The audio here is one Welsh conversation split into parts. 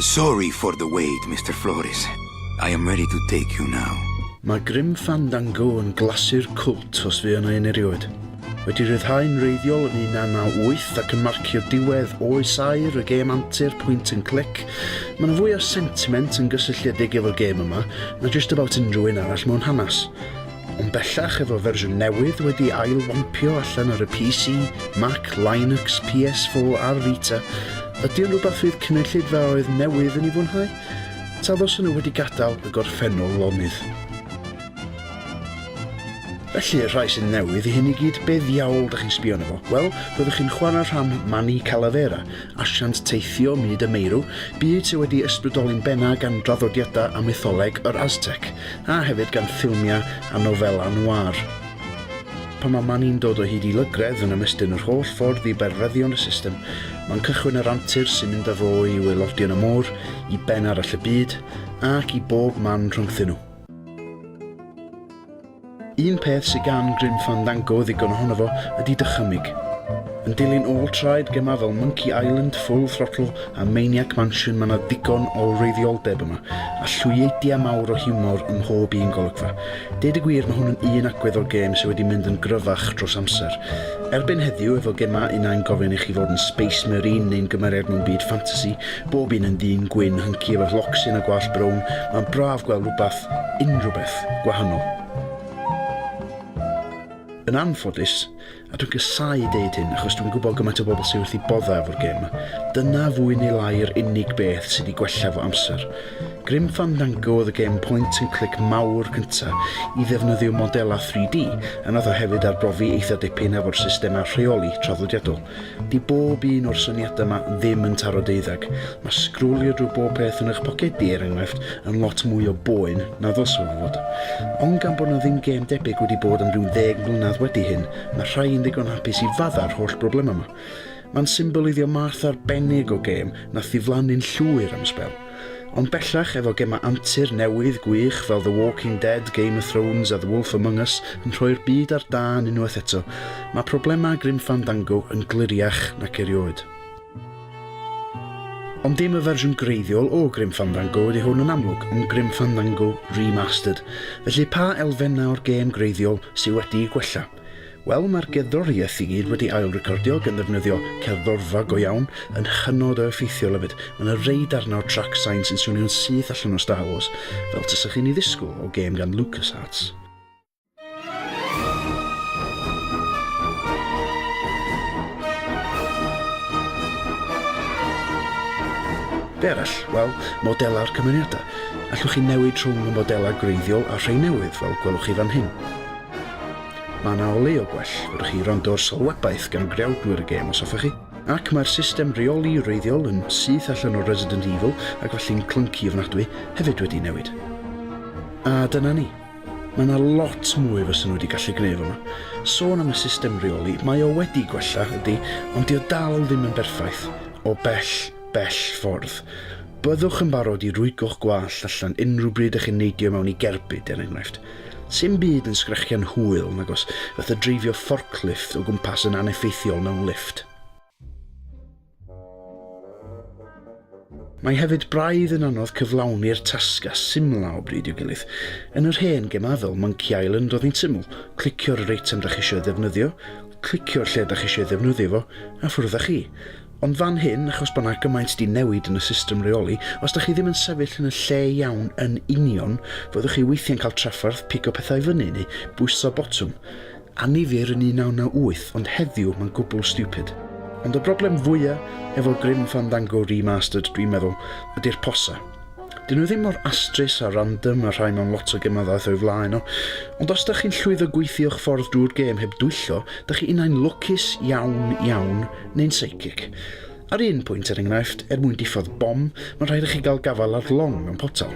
Sorry for the wait, Mister Flores. I am ready to take you now. Mae Grim Fandango yn glasu'r cwlt os fuo 'na un erioed. Wedi rhyddhau'n wreiddiol yn 1998 ac yn marcio diwedd oes aur y gêm antur pwynt yn clic, mae 'na fwy o sentiment yn gysylltiedig efo'r gêm yma na jyst about unrhyw un arall mewn hanes. Ond bellach efo fersiwn newydd wedi ail-wampio allan ar y PC, Mac, Linux, PS4 a'r Vita, ydy o'n rhywbeth fydd cynulleidfaoedd newydd yn ei fwynhau? Ta ddylsen nhw wedi gadael y gorffennol lonydd? Felly, y rhai sy'n newydd i hyn i gyd, be ddiawl dych chi'n sbio arno fo? Wel, roeddech chi'n chwarae rhan Manny Calavera, asiant teithio myd y meirw, byd sydd wedi ysbrydoli'n bennaf gan draddodiadau a mytholeg yr Aztec. A hefyd gan ffilmiau a nofelau noir. Pan mae Mani'n dod o hyd i lygredd yn ymestyn yr holl ffordd i berfeddion y system, mae'n cychwyn yr antur sy'n mynd â fo i waelodion y môr, i ben arall y byd, ac i bob man rhyngthyn nhw. Un peth sy gan Grim Fandango ddigon ohono fo ydi dychymyg. Yn dilyn ôl traed gemau fel Monkey Island, Full Throttle a Maniac Mansion mae 'na ddigon o wreiddioldeb yma, a llwyeidia mawr o hiwmor ym mhob un golygfa. Deud y gwir mae hwn yn un agwedd o'r gêm sy wedi mynd yn gryfach dros amser. Erbyn heddiw efo gemau un ai'n gofyn i chi fod yn Space Marine neu'n gymeriad mewn byd ffantasi, bob un yn ddyn gwyn hynci efo llocsyn a gwallt brown, mae'n braf gweld rwbath unrhyw beth gwahanol. Yn anffodus, a dwi'n casau deud hyn achos dwi'n gwybod gymaint o bobl sydd wrth i boddau efo'r gêm yma, dyna fwy neu lai yr unig beth sydd wedi gwella fo amser. Grim Fandango oedd y gêm point and click mawr cyntaf i ddefnyddio modelau 3D, a nath o hefyd arbrofi eitha dipyn efo'r systemau rheoli traddodiadol. 'Di bob un o'r syniadau 'ma ddim yn taro deuddag. Mae sgrolio drwy bob peth yn eich pocedi, er enghraifft, yn lot mwy o boen na ddylse fo fod. Ond gan bod 'na ddim gêm debyg wedi bod am ryw ddeg mlynedd wedi hyn, mae rhai yn ddigon hapus i faddau'r holl broblemau 'ma. Mae'n symboleiddio math arbennig o gêm nath ddiflannu'n llwyr am sbel. Ond bellach, efo gemau antur newydd gwych fel The Walking Dead, Game of Thrones a The Wolf Among Us yn rhoi'r byd ar dân unwaith eto, mae problemau Grim Fandango yn gliriach nac erioed. Ond dim y fersiwn greiddiol o Grim Fandango ydy hwn yn amlwg, ond Grim Fandango Remastered. Felly pa elfennau o'r gêm greiddiol sydd wedi'u gwella? Wel, mae'r gerddoriaeth i gyd wedi ail recordio gan ddefnyddio cerddorfa go iawn, yn hynod o effeithiol hefyd. Mae yna rei darnau o trac sain sy'n swnio'n syth allan o Star Wars, fel tasech chi'n ei ddisgwyl o gêm gan LucasArts. Be arall? Wel, modelau'r cymeriadau. Allwch chi newid rhwng y modelau gwreiddiol a rhai newydd, fel gwelwch chi fan hyn. Mae yna olew o gwell, fedrwch chi wrando ar sylwebaeth gan greawdwyr y gêm os hoffech chi, ac mae'r system reoli wreiddiol yn syth allan o Resident Evil ac felly'n clunci ofnadwy hefyd wedi newid. A dyna ni. Mae yna lot mwy fyswn wedi gallu gwneud fama. Sôn am y system reoli, mae o wedi gwella, ydy, ond dio dal ddim yn berffaith, o bell, bell ffordd. Byddwch yn barod i rwygo'ch gwallt allan unrhyw bryd ych chi'n neidio mewn i gerbyd, er enghraifft. Sim byd yn sgrechian hwyl nag os fatha dreifio fforclifft o gwmpas yn aneffeithiol mewn lifft. Mae hefyd braidd yn anodd cyflawni'r tasg a symlau o bryd i'w gilydd. Yn yr hen gemau fel Monkey Island oedd hi'n syml, clicio'r yr eitem dach chi eisiau ei ddefnyddio, clicio'r lle dach chi eisiau ei ddefnyddio fo, a ffwrdd â chi. Ond fan hyn, achos bod 'na gymaint 'di newid yn y system reoli, os dach chi ddim yn sefyll yn y lle iawn yn union, fyddwch chi weithiau'n cael trafferth pigo pethau i fyny neu bwyso botwm. Annifyr yn 1998, ond heddiw mae'n gwbl stupid. Ond y broblem fwya efo Grim Fandango Remastered dwi'n meddwl ydi'r posa. Dyn nhw ddim mor astrus a random a rhai mewn lot o gemau ddaeth o'i flaen o, ond os dach chi'n llwyddo gweithio'ch ffordd drwy'r gêm heb dwyllo, dach chi unai'n lwcus iawn iawn neu'n psychic. Ar un pwynt, er enghraifft, er mwyn diffodd bom, mae'n rhaid i chi gael gafael ar long mewn potel.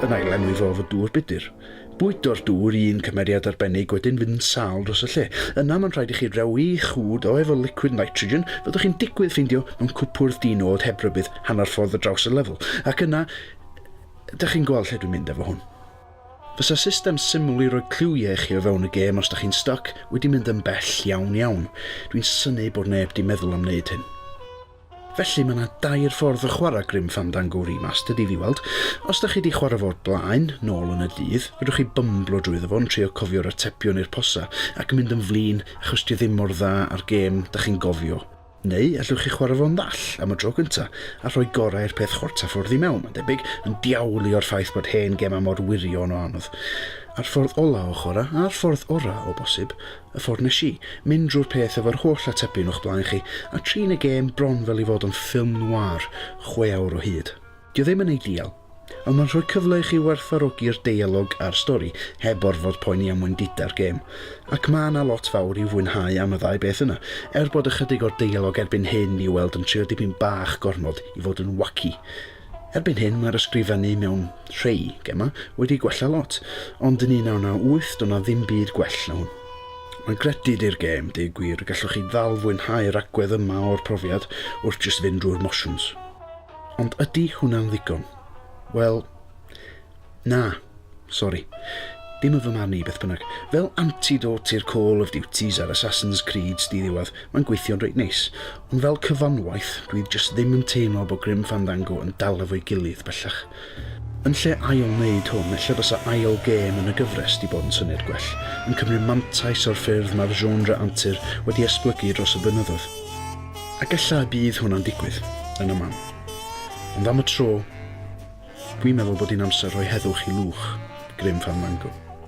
Yn ail-lenwi fo efo dŵr budr. Bwydo'r dŵr i un cymeriad arbennig, wedyn fynd yn sâl dros y lle. Yna mae'n rhaid i chi rewi'ch hwd o efo liquid nitrogen, fyddwch chi'n digwydd ffeindio mewn cwpwrdd di-nod heb rybudd hanner ffordd ar draws y lefel. Ac yna, dach chi'n gweld lle dwi'n mynd efo hwn. Fysa system syml i roi cliwiau i chi o fewn y gêm os dych chi'n styc wedi mynd yn bell iawn iawn, dwi'n synnu bod neb 'di meddwl am wneud hyn. Felly, mae 'na dair ffordd o chwarae Grim Fandango Remastered i fi weld. Os dych chi 'di chwarae fo o'r blaen, nôl yn y dydd, fedrwch chi bymblo drwyddo fo yn trio cofio'r atebion i'r posa ac yn mynd yn flin achos 'di o ddim mor dda â'r gêm dych chi'n gofio. Neu allwch chi chwarae fo'n ddall, am y tro cyntaf, a rhoi gorau'r peth chwarter ffordd i mewn, mae'n debyg, yn diawlu o'r ffaith bod hen gemau mor wirion o anodd. A'r ffordd ola' o chwarae, a'r ffordd ora', o bosib, y ffordd nes i, mynd drwy'r peth efo'r holl atebion o'ch blaen chi, a trin y gêm bron fel ei fod o'n ffilm noir, chwe awr o hyd. Dyw e ddim yn eidial, ond mae'n rhoi cyfle i chi werthfawrogi'r deialog a'r stori, heb orfod poeni am wendidau'r gêm. Ac mae yna lot fawr i'w fwynhau am y ddau beth yna, er bod ychydig o'r deialog erbyn hyn i'w weld yn trio dipyn bach gormod i fod yn wacky. Erbyn hyn mae'r ysgrifennu mewn rhei gemau wedi gwella lot, ond yn 1998 doedd 'na ddim byd gwell na hwn. Mae'n gredyd i'r gêm, deu gwir, y gallwch chi ddal fwynhau'r agwedd yma o'r profiad wrth jyst fynd drwy'r mosiwns. Ond ydy hwnna'n ddigon? Wel, na, sori. Dim yn fy marn i, beth bynnag. Fel antidote i'r Call of Duties a'r Assassin's Creeds di-ddiwedd, mae'n gweithio'n reit neis. Ond fel cyfanwaith, dwi jyst ddim yn teimlo bod Grim Fandango yn dal efo'i gilydd, bellach. Yn lle ail wneud hwn, ella bysa ail gêm yn y gyfres 'di bod yn syniad gwell, yn cymryd mantais o'r ffyrdd mae'r genre antur wedi esblygu dros y blynyddoedd. Ac ella y bydd hwnna'n digwydd, yn y man. Ond am y tro, dwi'n meddwl bod hi'n amser rhoi heddwch i Lwch, grym fan Mango.